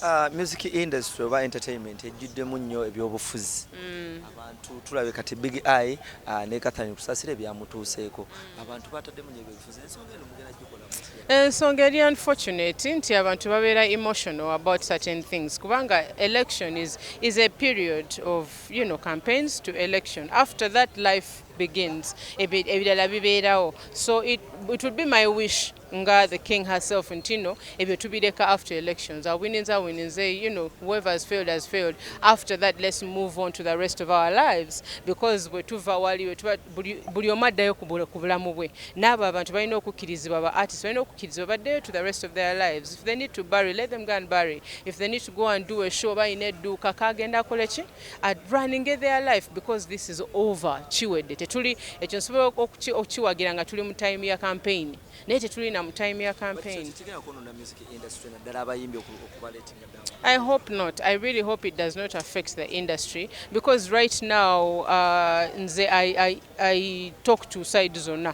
Uh, music industry oba entertainment ejjuddemu nnyo ebyobufuzi mm. abantu tulabe kati big eye uh, ne kathani kusasira ebyamutuuseeko mm. abantu bataddemu nyo ebyobufuzi ensonga eno mugera gikola ensonga eri unfortunate nti abantu babeera emotional about certain things kubanga election is, is a period of you know, campaigns to election after that life begins ebirala bibeerawo so it, it would be my wish nga the king herself ntino ebyo tubireka after elections awininze awininze you know whoever has failed has failed after that let's move on to the rest of our lives because bwe tuva waliwe tuba buli omu addayo ku bulamu bwe n'abo abantu balina okukkirizibwa ba artist balina okukkirizibwa baddeyo to the rest of their lives if they need to bury let them go and bury if they need to go and do a show balina edduuka kaagenda akoleki At running their life because this is over kiwedde tetuli ekyo nsobola okukiwagira nga tuli mu time ya campaign naye tetuli na mu time ya campaign I hope not I really hope it does not affect the industry because right now uh, nze I, I, I talk to side zonna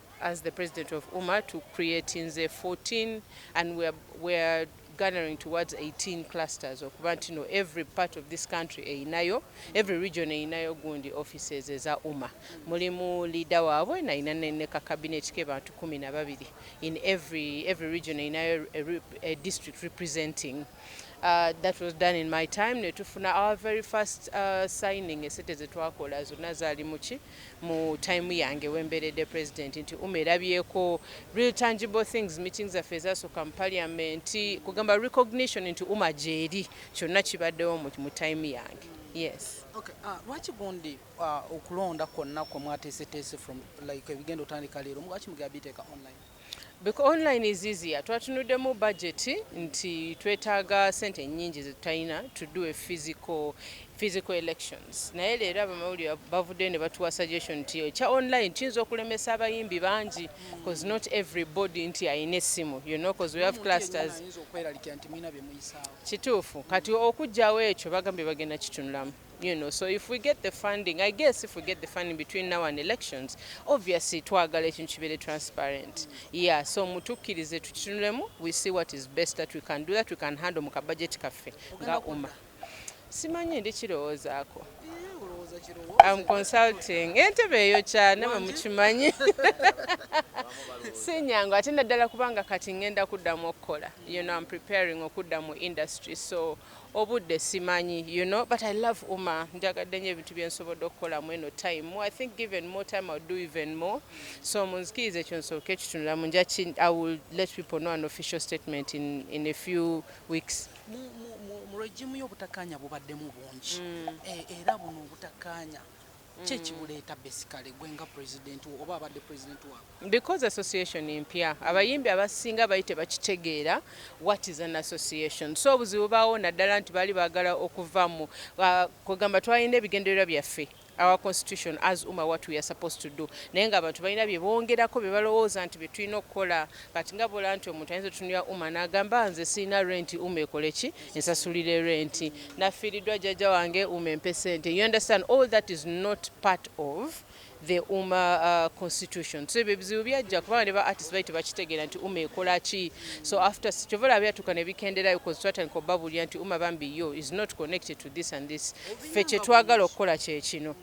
As the president of UMA to create nze 14 and we are, we are garnering towards 18 clusters okuba nti no every part of this country eyinayo every region eyinayo gundi offices eza uma mulimu leader waabwe nayina ne ka cabinet ke bantu kumi na babiri in every, every region eyinayo a, a district representing Uh, that was done in my time netufuna our very first uh, signing esete zetwakola zonna zaali muki mu time yange wemberede president nti ummy erabyeko real tangible things meeting zaffe ezasoka mu parliament kugamba recognition nti umar gyeri kyonna kibaddewo mu time yange yes okay uh, lwaki gundi uh, okulonda kwonna kwe mwateeseteese from like ebigenda otandika leero lwaki mugera biteeka online Bec online is easier twatunuddemu budget nti twetaaga sente nyingi zetutalina to do a physical physical elections naye leero abamawulire bavuddeyo ne batuwa suggestion nti ekya online kiyinza okulemesa abayimbi bangi cause not every body nti alina essimu you know cause we have clusters kituufu kati okujjawo ekyo bagambye bagenda kitunulamu you know so if we get the funding i guess if we get the funding between now and elections obviously twagala ekintu kibeere transparent yeah so mutukkirize tukitunulemu we see what is best that we can do that we can handle mu kabajeti kaffe nga uma simanyi ndi kirowoozaako am consulting entebe eyo kyane mwe mukimanyi sinyangu ate naddala kubanga kati ngenda kuddamu okukola you know am preparing okudda mu industry so Obudde simanyi you know but I love Umar njagadde nyo ebintu byensobodde okukola mweno time more I think given more time I'll do even more so munzikirize ekyo nsooke ekitunulamu nja I will let people know an official statement in, in a few weeks mu regimu y'obutakanya bubaddemu bungi mm. e, era buno obutakanya Ki ekibuleeta basically gwe nga president wo oba abadde president waabwe? Because association mpya. Abayimbi abasinga bali tebakitegeera what is an association. So obuzibu baawo naddala nti baali baagala okuva mu uh, kwegamba twalina ebigendererwa byaffe our constitution as uma what we are supposed to do naye nga abantu balina bye bongerako bye balowooza nti bye tulina okukola Kati nga bola nti omuntu ayinza otunulira Uma n'agamba nze sirina renti Uma ekole ki ensasulire renti, nafiiriddwa jjajja wange Uma empe ssente. You understand all that is not part of the Uma uh, constitution so ebyo ebizibu byajja kubanga ne ba artist bali tebakitegeera nti Uma ekola ki so after kyova olaba byatuuka ne bikenderayo cause twatandika obabulira nti Uma bambi yo is not connected to this and this ffe kyetwagala okukola kyekino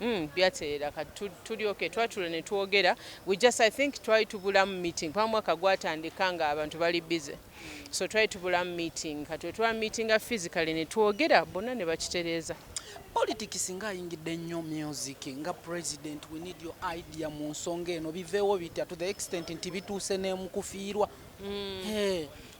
Mm, byatereera kati tuli okay twatula ne twogera we just i think twali tubulamu meeting kuba mwaka gwatandika nga abantu bali busy so twali tubulamu meeting kati wetwa meetinga physically ne twogera bonna ne bakitereeza politics nga ayingidde nnyo music nga president we need your idea mu nsonga eno biveewo bitya to the extent nti bituuse nemukufiirwa mm. hey.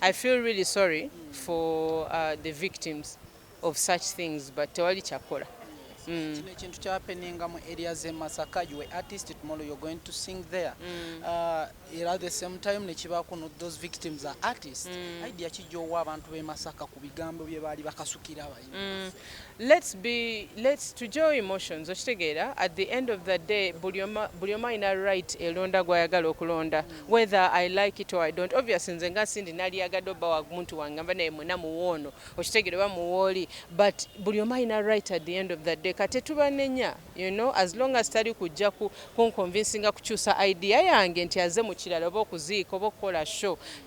I feel really sorry for uh, the victims of such things but tewali kyakola mm. kino ekintu kyapeninga mu area ze masaka you were artist tomorrow you're going to sing there mm. uh, era the same time nekiba kuno those victims are artists mm. idea kijja owa abantu be masaka ku bigambo bye baali bakasukira Mm, let's be let's to joy emotions okitegeera at the end of the day buli omu alina right elonda gwayagala okulonda whether i like it or i don't obvious nze nga sindi naliyagadde oba wamuntu wange nva naye mwena muwoono okitegeera oba muwooli but buli omu alina right at the end of the day kate tubanenya you know as long as tali kujja kunconvinsinga kukyusa idea yange nti aze mukirala oba okuziika oba okukola show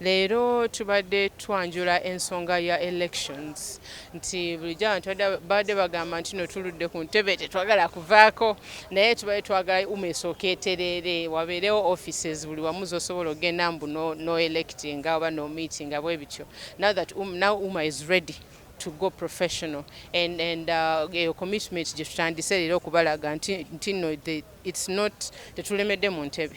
Leero tubadde twanjula ensonga ya elections nti bulijjo abantu babadde bagamba nti no tuludde ku ntebe tetwagala kuvaako naye tubadde twagala uma esooka etereere wabeerewo offices buli wamu zosobola okugenda mbu no, no electing oba no meeting bwe bityo now that um, now uma is ready to go professional and and uh, eyo uh, commitment gye tutandise leero okubalaga nti nti no it's not tetulemedde mu ntebe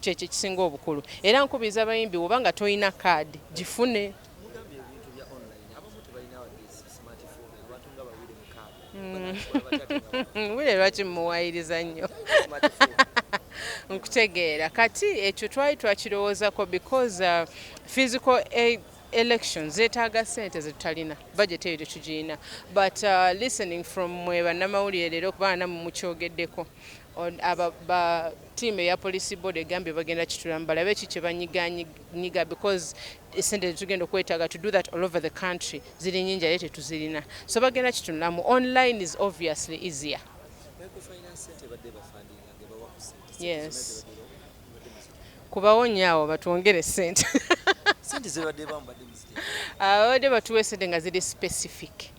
Kyekyo ekisinga obukulu era nkubiriza abayimbi woba nga tolina card gifune. Mm. wire lwaki mumuwayiriza nnyo nkutegeera kati ekyo twali twakirowoozako because uh, physical aid election zetaaga sente zetutalina budget eyo tetugirina but uh, listening from mwe bannamawulire leero kubaana mumukyogeddeko Aba team eya police board egambye bagenda kitulamu balabe ki kyebanyiganyiga because esente zetugenda okwetaga to do that all over the country ziri nyingi ate tetuzirina so bagenda kitunulamu online is obviously easier yes kubawo nyo awo batwongere sente ababadde batuwa esente nga ziri specific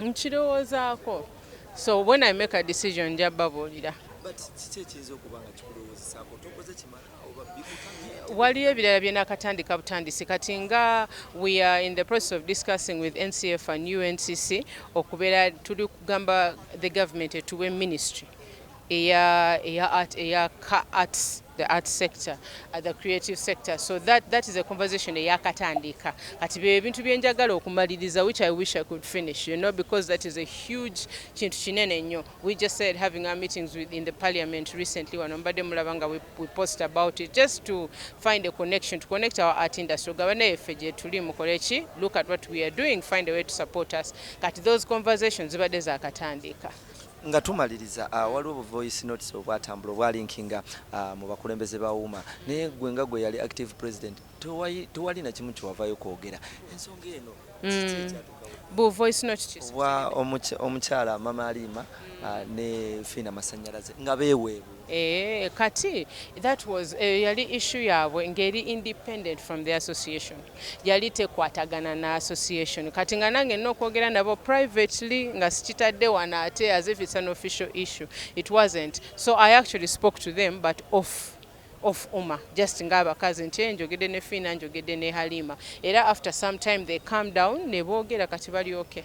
nkirowoozaako so when i make a decision nja babuulira waliyo ebirala byenakatandika butandisi kati nga we are in the process of discussing with ncf and uncc okubeera tuli kugamba the government etuwe ministry eya eya art eya ka arts the art sector uh, the creative sector so that that is a conversation eyakatandiika kati bye ebintu bye njagala okumaliriza which i wish i could finish you know because that is a huge kintu kinene nnyo we just said having our meetings with in the parliament recently wano mbadde mulaba nga we, we post about it just to find a connection to connect our art industry ogaba naye ffe gye tuli mukole ki look at what we are doing find a way to support us kati those conversations zibadde zakatandiika Nga tumaliriza, waliwo bu voice notes obwatambula obwa linkinga mu bakulembeze ba UWMA naye ggwe nga gwe yali active president tewali na kimu kyewavayo kwogera ensonga eno kiki mm. ekyatu bu voice note ki wa omukyala mama alima mm. ah, ne fina masanyalaze nga beweebu Eeh Kati that was eyo yali issue yabwe nga eri independent from the association yali tekwatagana na association Kati nga nange nina okwogera nabo privately nga sikitadde wano ate as if it's an official issue it wasn't so I actually spoke to them but off off uma just nga abakazi nti eeh njogedde ne Fiina njogedde ne Halima era after some time they calm down nebogera Kati bali ok.